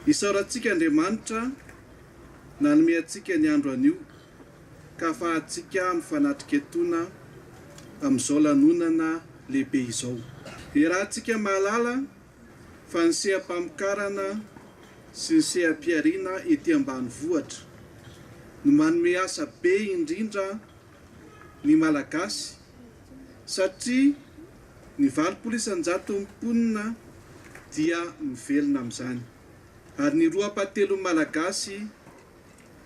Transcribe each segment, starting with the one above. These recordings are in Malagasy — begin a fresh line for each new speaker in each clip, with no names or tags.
Isaorantsika Andriamanitra nanome antsika ny andro anio ka afahantsika mifanatrika etona amin'izao lanonana lehibe izao. Iarahantsika mahalala fa ny seha-pamokarana sy ny seha-pihariana ety ambanivohitra no manome asa be indrindra ny Malagasy satria ny valopolo isan-jaton'ny mponina dia mivelona amin'izany ary ny roa ampahatelon'ny Malagasy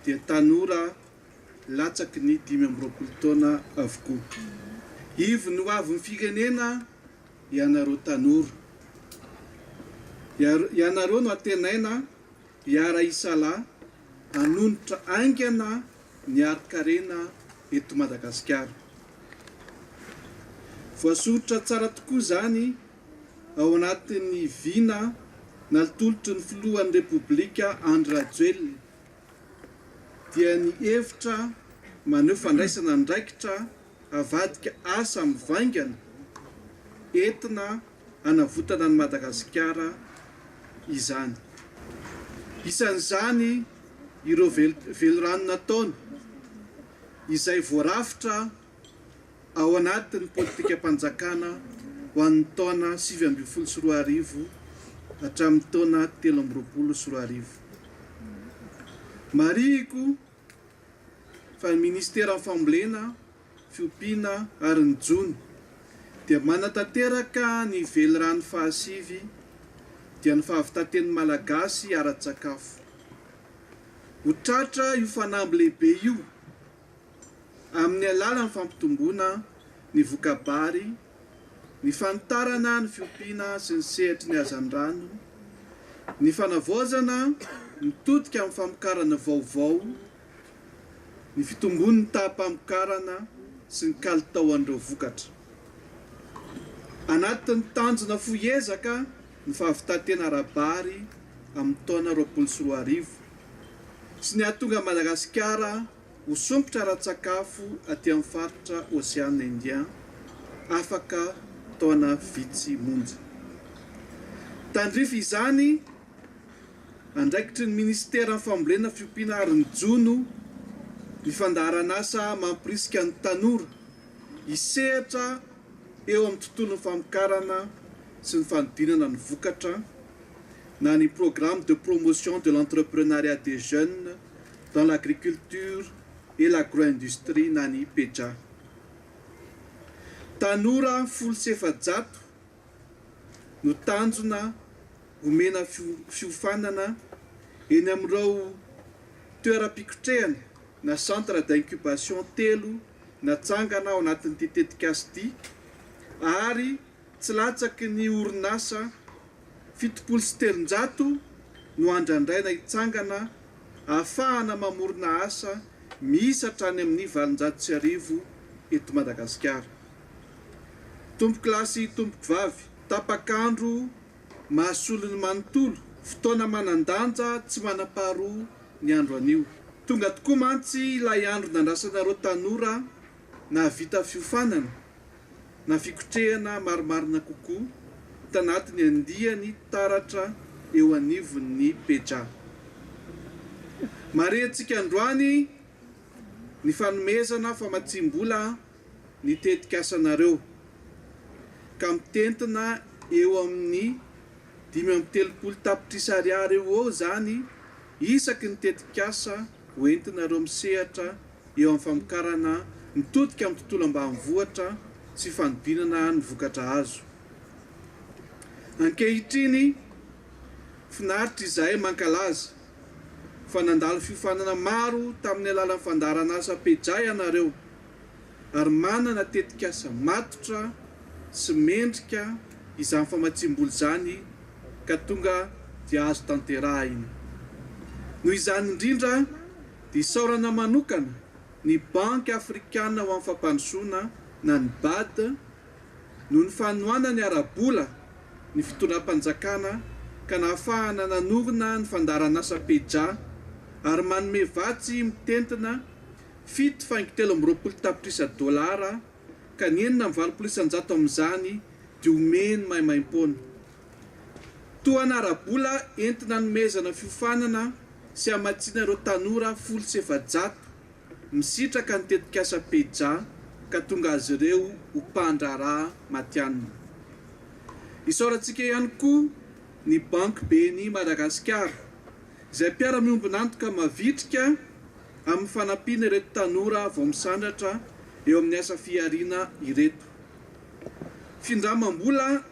dia tanora latsaky ny dimy amby roapolo taona avokoa. Ivon'ny hoavin'ny firenena ianareo tanora. Ianareo no antenaina hiara-hisalahy hanonitra haingana ny harin-karena eto Madagasikara. Voasoritra tsara tokoa izany ao anatin'ny vina naltolotry ny filohan'ny Repoblika Andry Rajoelina, dia ny hevitra maneho fandraisana andraikitra havadika asa mivaingana entina hanavotana an'i Madagasikara izany. Isan'izany ireo velirano nataony izay voarafitra ao anatin'ny politikam-panjakana ho an'ny taona sivy ambin'ny folo sy roa arivo hatramin'ny taona telo amby roapolo sy roa arivo. Marihiko fa ny Ministeran'ny Fambolena fiompiana ary ny jono dia manatanteraka ny velirano fahasivy dia ny fahavitaten'ny Malagasy ara-tsakafo. Ho tratra io fanamby lehibe io amin'ny alalan'ny fampitomboana ny voka-bary, ny fanitarana ny fiompiana sy ny sehatry ny hazandrano, ny fanavaozana mitodika amin'ny famokarana vaovao ny fitombon'ny taham-pamokarana sy ny kalitaoan'ireo vokatra. Anatin'ny tanjona fohy ezaka ny fahavitan-tena ara-bary amin'ny taona roapolo sy roa arivo sy ny hahatonga an'i Madagasikara ho sompitra ara-tsakafo aty amin'ny faritra Ocean Indien afaka taona vitsy monja. Tandrify izany Andraikitry ny minisiteran'ny fambolena, fiompiana ary ny jono ny fandaharanasa mampirisika ny tanora hisehatra eo amin'ny tontolon'ny famokarana sy ny fanodinana ny vokatra na ny Programme de promotion de l'entrepreneuriat des jeunes dans l'agriculture et l'agroindustrie na ny PEJA. Tanora folo sy efajato no tanjona omena fiofanana eny amin'ireo toeram-pikotrehana na centre d'incubation telo natsangana ao anatin'ity tetikasa ity ary tsy latsaky ny orinasa fitopolo sy telonjato no andrandraina hitsangana ahafahana mamorona asa miisa hatrany amin'ny valonjato sy arivo eto Madagasikara. Tompokolahy sy tompokovavy, tapak'andro mahasolo ny manontolo, fotoana manan-danja tsy manam-paharoa ny andro anio. Tonga tokoa mantsy ilay andro nandrasanareo tanora nahavita fiofanana na fikotrehana marimarina kokoa tanatin'ny andiany taratra eo anivon'ny Peja. Marihintsika androany ny fanomezana famatsiam-bola ny tetikasanareo ka mitentina eo amin'ny dimy amby telopolo tapitrisa ariary eo ho eo izany isaky ny tetikasa ho entinareo misehatra eo amin'ny famokarana mitodika amin'ny tontolo ambanivohitra sy fanodinana ny vokatra azo ankehitriny Finaritra izahay mankalaza fa nandalo fiofanana maro tamin'ny alalan'ny fandaharanasa Pejah ianareo. ary manana tetikasa matotra sy mendrika izany famatsiam-bola izany ka tonga dia azo tanterahina. Noho izany indrindra dia isaorana manokana ny Banky Afrikana ho an'ny Fampandrosoana na ny Bad noho ny fanohanany ara-bola ny fitondram-panjakana ka nahafahana nanorina ny fandaharanasa Peja ary manome vatsy mitentina fito faingo telo amby roapolo tapitrisa dolara ka ny enina amby valopolo isan-jato amin'izany dia omeny maimaimpoana. Tohana ara-bola entina anomezana fiofanana sy hamatsiana ireo tanora folo sy efajato misitraka ny tetikasa Peja ka tonga azy ireo ho mpandraharaha matihanina. Isaorantsika ihany koa ny Banky BNI Madagasikara izay mpiara-miombon'antoka mavitrika amin'ny fanampiana ireto tanora vao misandratra eo amin'ny asa fihariana ireto. Findramam-bola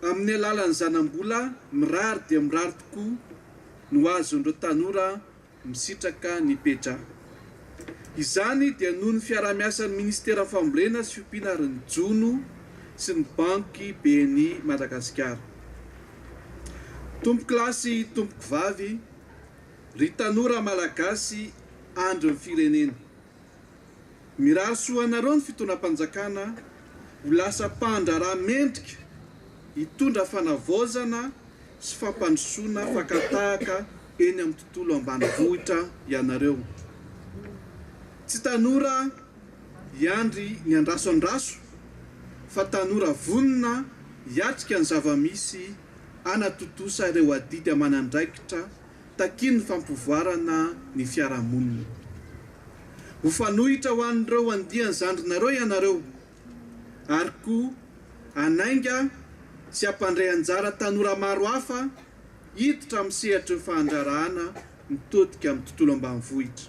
amin'ny alalan'ny zanam-bola mirary dia mirary tokoa no azon'ireo tanora misitraka ny Peja. Izany dia noho ny fiaraha-miasan'ny Minisitera Fambolena sy Fiompiana ary ny Jono sy ny Banky BNI Madagasikara. Tompokolahy sy tompoko vavy, Ry tanora Malagasy andry ny firenena. Mirary soa anareo ny fitondram-panjakana ho lasa mpandraharaha mendrika hitondra fanavaozana sy fampandrosoana fakan-tahaka eny amin'ny tontolo ambanivohitra ianareo. Tsy tanora hiandry ny andraso andraso fa tanora vonona hiatrika ny zava-misy. hanatontosa ireo adidy aman'andraikitra takian'ny fampivoarana ny fiarahamonina. Ho fanohitra ho an'ireo andiany zandrinareo ianareo ary koa hanainga sy hampandray anjara tanora maro hafa hiditra amin'ny sehatry ny fahandrarahana mitodika amin'ny tontolo ambanivohitra.